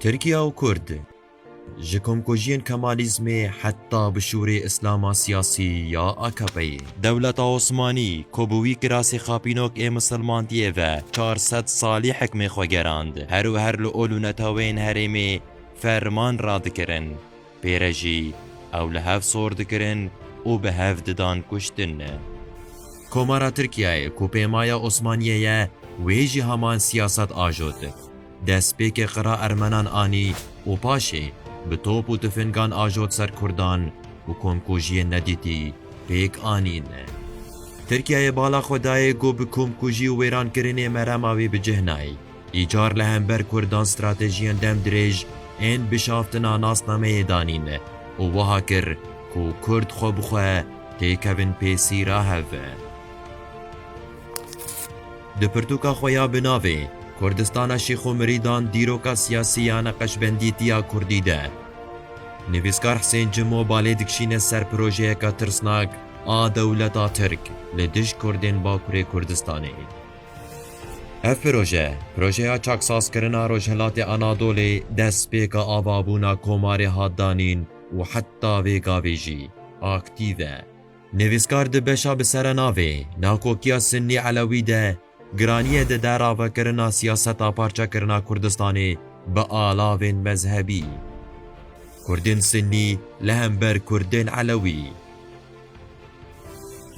Tirkiya û Kurd ji komkujiyên Kemalîzmê heta bi şûrê Îslama siyasî ya AKP'yê. Dewleta Osmanî ku bi wî kirasê xapînok ê misilmantiyê ve çar sed salî hikmê xwe gerand, her û her li ol û neteweyên herêmê ferman radikirin. Pê re jî ew li hev sor dikirin û bi hev didan kuştin. Komara Tirkiyeyê ku pêmaya Osmaniyê ye wê jî heman siyaset ajot. Destpêkê qira Ermenan anî û paşê bi top û tifingan ajot ser Kurdan û komkujiyên nedîtî pêk anîn. Tirkiyeyê bala xwe dayê ku bi komkujî û wêrankirinê merema wê bi cih nayê. Îcar li hember Kurdan stratejiyên dem dirêj ên bişaftina nasnameyê danîn û wiha kir ku Kurd xwe bi xwe têkevin pêsîra hev. Di pirtûka xwe ya bi navê Kurdistana Şîx û Mirîdan dîroka siyasî ya neqeşbendî tiya Kurdî de nivîskar Husên Cimo balê dikişîne ser projeyeka tirsnak a dewleta Tirk li dij Kurdên Bakurê Kurdistanê. Ev proje, projeya çaksazkirina Rojhilatê Anadolê destpêka avabûna Komarê hat danîn û heta vê gavê jî aktîv e. Nivîskar di beşa bi serenavê Nakokiya Sinnî-Elewî de giraniyê dide ravekirina siyaseta parçekirina Kurdistanê bi alavên mezhebî, Kurdên Sinnî li hember Kurdên Elewî.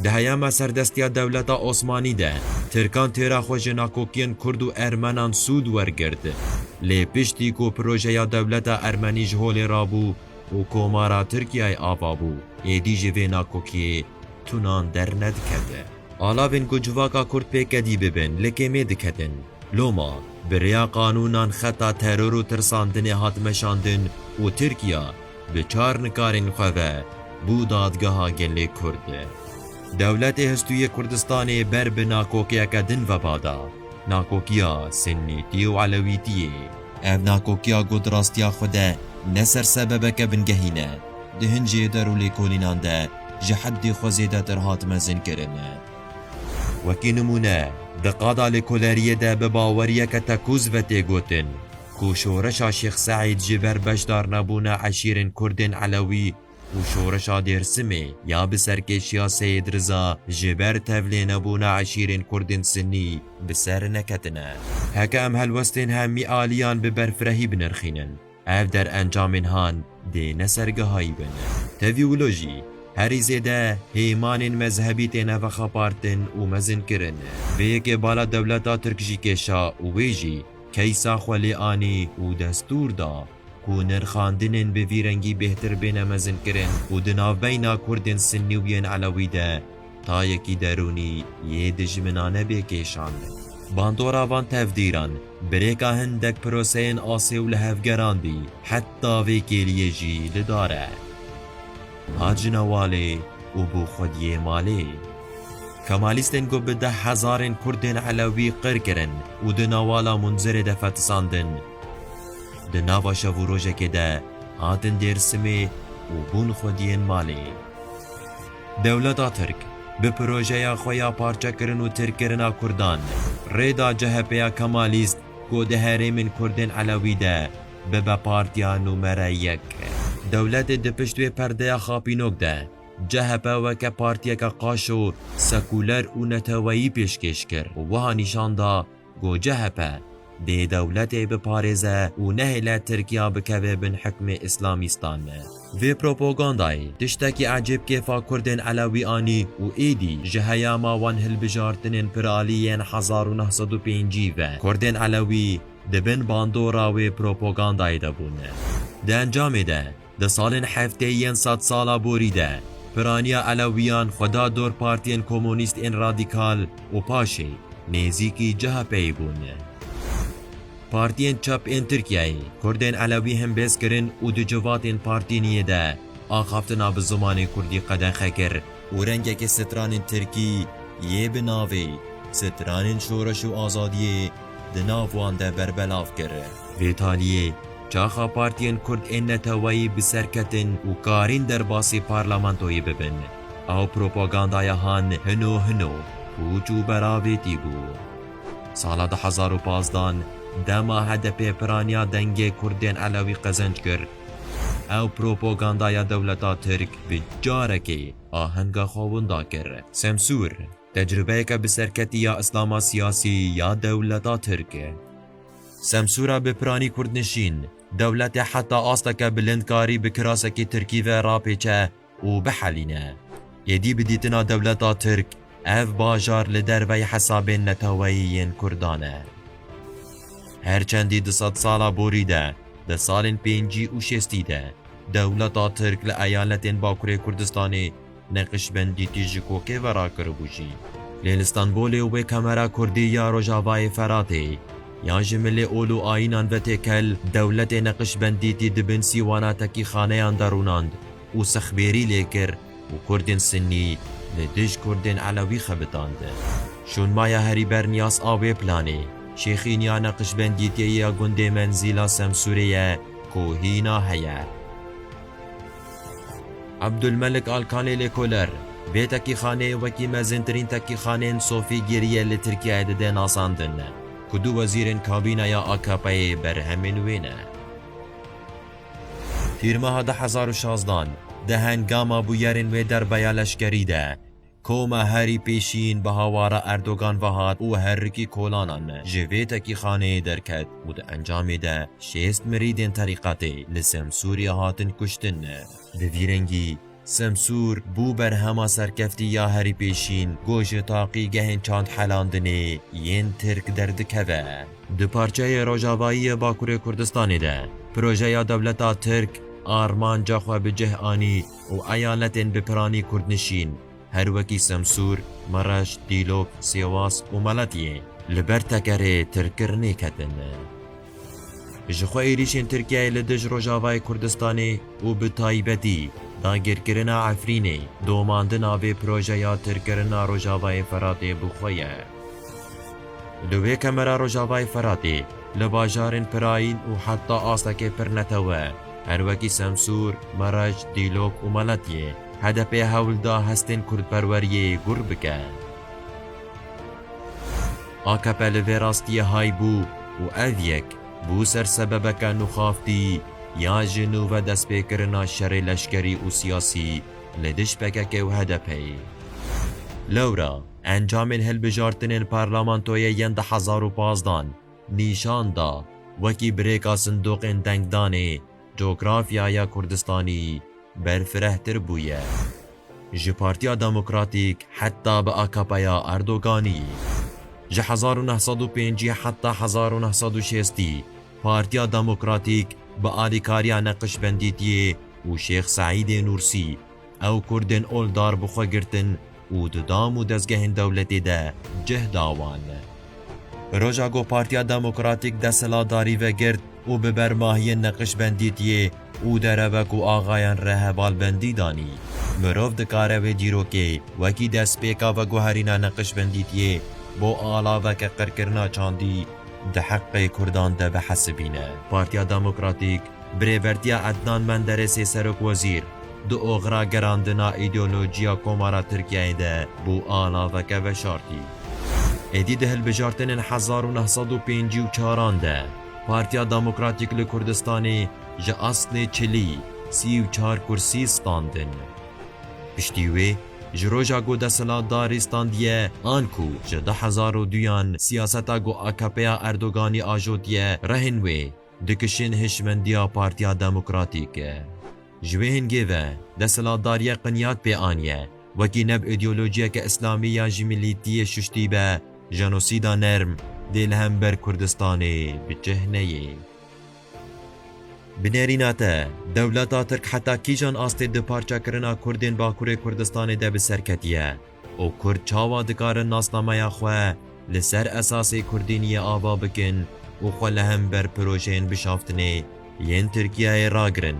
Di heyama serdestiya dewleta Osmanî de Tirkan têra xwe ji nakokiyên Kurd û Ermenan sûd wergirt. Lê piştî ku projeya dewleta Ermenî ji holê rabû û Komara Tirkiyeyê ava bû, êdî ji vê nakokiyê tunan dernedikete. Alavên ku civaka Kurd pêkdî bibin li kêmê diketin. Loma bi rêya qanûnan xeta teror û tirsandinê hat meşandin û Tirkiya, Bi çar nikarên xwe ve bû Dadgeha Gelê Kurd. Dewletê Hestûyê Kurdistanê ber bi nakokiyeke din veba da, nakokiya Sinnîtî û Elewîtîyê. Ev nakokiya ku di rastiya xwe de ne ser sebebeke bingehî ne, di hin cêder û lêkolînan de ji heddê xwe zêdetir hat mezinkirin. Wekî nimûne, di qada lêkoleriyê de bi baweriyeke tekûz ve tê gotin, Ku şoreşa Şêx Seîd ji ber beşdarnebûna eşîrên Kurdên Elewî û şoreşa Dêrsimê ya bi serkêşiya Seyîd Riza ji ber tevlênebûna eşîrên Kurdên Sinî bi ser neketine. Heke em helwestên hemî aliyan bi berfirehî binirxînin, ev derencamên han dê ne ser gehayî bin. Tevî wilo jî, herî zêde hêmanên mezhebî têne vexapartin û mezinkirin. Vê yekê bala dewleta Tirk jî kêşa û wê jî, keysa xwe lê anî û destûr da ku nirxandinên bi vî rengî bêhtir bêne mezinkirin û di navbeyna Kurdên Sinnî û yên Elewî de tayekî derûnî yê dijminane bê kêşandin. Bandora van tevdîran birêka hindek proseyên asê û lihevgeran dî, heta vê kêliyê jî li dar e. Hacina Walê û bû xwediyê malê. Kemalîstên ku bi deh hezarên Kurdên Elewî qir kirin û di Nawala Munzirê de fetisandin, di nava şev û rojekê de hatin Dêrsimê û bûn xwediyên malê. Dewleta Tirk bi projeya xwe ya parçekirin û tirkkirina Kurdan rê da CHPya Kemalîst ku di herêmên Kurdên Elewî de bibe partiya nûmere yek. Dewletê di pişt wê perdeya xapînok de CHP weke partiyeke qaş û sekûler û neteweyî pêşkêş kir û wiha nîşan da ku CHP dê dewletê biparêze û nehêle Tirkiya bikeve bin hikmê îslamîstan. Vê propagandayê tiştekî ecêb kêfa Kurdên Elewî anî û êdî ji heyama wan hilbijartinên piralî yên hezar û neh sed û pêncî ve Kurdên Elewî, Di bin bandora wê propagandayê de bûne. Di encamê de, di salên heftê yên sed sala borî de, piraniya Elewiyan xwe da dor partiyên komûnîst ên radîkal û paşê nêzîkî CHP'ê bûn. Partiyên çep ên Tirkiyeyê, Kurdên Elewî himbêz kirin û di civatên partîniyê de axaftina bi zimanê Kurdî qedexe kir û rengekî stranên Tirkî yê bi navê Stranên Şoreş û Azadiyê di nav wan de berbelav kir. Vê taliyê, çaxa partiyên kurd ên neteweyî bi ser ketin û karîn derbasî parlamentoyê bibin. Ew propagandaya han hino hino, pûç û beravêtî bû. Sala du hezar û pazdeh dema HDP'ê piraniya dengê kurdên elewî qezenc kir, ew propagandaya dewleta tirk bi carekê ahenga xwe winda kir. Semsûr. Tecrubeyeke bi serketî ya îslama siyasî ya dewleta tirk e. Semsûra bi piranî kurdnişîn, dewletê heta asteke bilind karî bi kirasekî tirkî ve rapêçe û bihelîne. Êdî bi dîtina dewleta tirk, ev bajar li derveyî hesabên neteweyî yên kurdan e. Her çendî di sedsala borî de, di salên pêncî û şêstî de, dewleta tirk li eyaletên bakurê Kurdistanê, Neqîşbendîtî ji kokê ve rakiribû jî. Lê li Stenbolê û wê kamera kurdî ya Rojavayê Feratê yan ji milê ol û ayînan ve têkel dewletê Neqîşbendîtî di bin sîwana tekîxaneyan de rûnand û sexbêrî lê kir û kurdên sinnî li dij kurdên elewî xebitandin. Şûnmaya herî berniyas a wê planê, şêxîniya Neqîşbendîtiyê ya gundê Menzîla Semsûrê ye ku hîna heye. Abdulmelik Alkanê lêkoler, Vê tekîxaneyê wekî mezîntirîn tekîxaneyên sofî gêrîye li Tirkiyeyê dide nasandin ku du wezîrên kabîneya AKP'ê berhemên wê ne. Tîrmeha du hezar û şazdan di hengama bûyerên wê derbaya leşkerî de, Ku me herî pêşîn bi hawara Erdogan ve hat û herikî kolanan me ji vê tekîxaneyê derket û di encamê de şêst mirîdên terîqetê li Semsûrê hatin kuştin. Bi vî rengî Semsûr bû berhema serkeftî ya herî pêşîn ku ji taqîgehên çandhelandinê yên Tirk derdikeve. Di parçeyê rojavayî yê Bakurê Kurdistanê de projeya dewleta Tirk armanca xwe bi cih anî û eyaletên bi piranî kurdnişîn her wekî Semsûr, Mereş, Dîlok, Sêwas û Meletiyê li ber tekerê tirkirinê ketin. Ji xwe êrîşên Tirkiyeyê li dij Rojavayê Kurdistanê û bi taybetî dagirkirina Efrînê domandina vê projeya tirkirina Rojavayê Feratê bi xwe ye. Li wê kemera Rojavayê Firatê, li bajarên Pirayîn û heta astekê Pirnetewe, her wekî Semsûr, Merec, Dîlok û Meletyê, HDP hewl da hestên kurdperweriyê gûr bike. Akp li vê rastiyê hay bû û ev yek bû ser sebebeke nuxaftî ya ji nû ve destpêkirina şerê leşkerî û siyasî li dij PKK û HDP'ê. Lewra. Encamên hilbijartinên parlamentoyê yên di hezar û pazdeh an nîşan da wekî birêka sindoqên dengdanê cografyaya Kurdistanî berfirehtir bûye. Ji Partiya Demokratîk heta bi AKPya Erdoganî. Ji hezar û neh sed û pêncî heta hezar û neh sed û şêstî Partiya Demokratîk bi alîkariya Neqşbendîtiyê û Şêx Seîdê Nûrsî Ew Kurdên ol dar bi xwe girtin û di dam û dezgehên dewletê de cih da wan. Bi roja ku Partiya Demokratîk desthilatdarî vegirt û bi ber mahiyên Neqişbendî tiyê û derewek û axayan re hevalbendî danî, mirov dikare wê dîrokê wekî destpêka veguherîna Neqişbendî tiyê bo alaveke qirkirina çandî di heqê Kurdan de bihesibîne. Partiya Demokratîk Bi rêbertiya Ednan Menderesê Serokwezîr, di oxira gerandina îdeolojiya Komara Tirkiyeyê de bû a naveke veşartî. Êdî di hilbijartinên hezar û neh sed û pêncî û çar an de Partiya Demokratîk li Kurdistanê ji aslê çilî, sî û çar kursî standin. Piştî wê ji roja ku desthilatdarî standiye an ku ji du hezar û duyan siyaseta ku AKPya Erdoganî ajotiye rehên wê, Dikişên hişmendiya Partiya Demokratîk ji wê hingê ve desthilatdariyê qinyat pê aniye wekî neb îdeolojiyeke îslamî ya ji mîlîtiyê şuştî be jenosîda nerm dê li hember Kurdistanê bi cih neyê. Bi nêrîna te dewleta Tirk heta kîjan astê duparçekirina Kurdên Bakurê Kurdistanê de bi ser ketiye? û kurd çawa dikarin nasnameya xwe li ser esasê kurdîniyê ava bikin û xwe li hember pirojeyên bişaftinê yên Tirkiyeyê ragirin.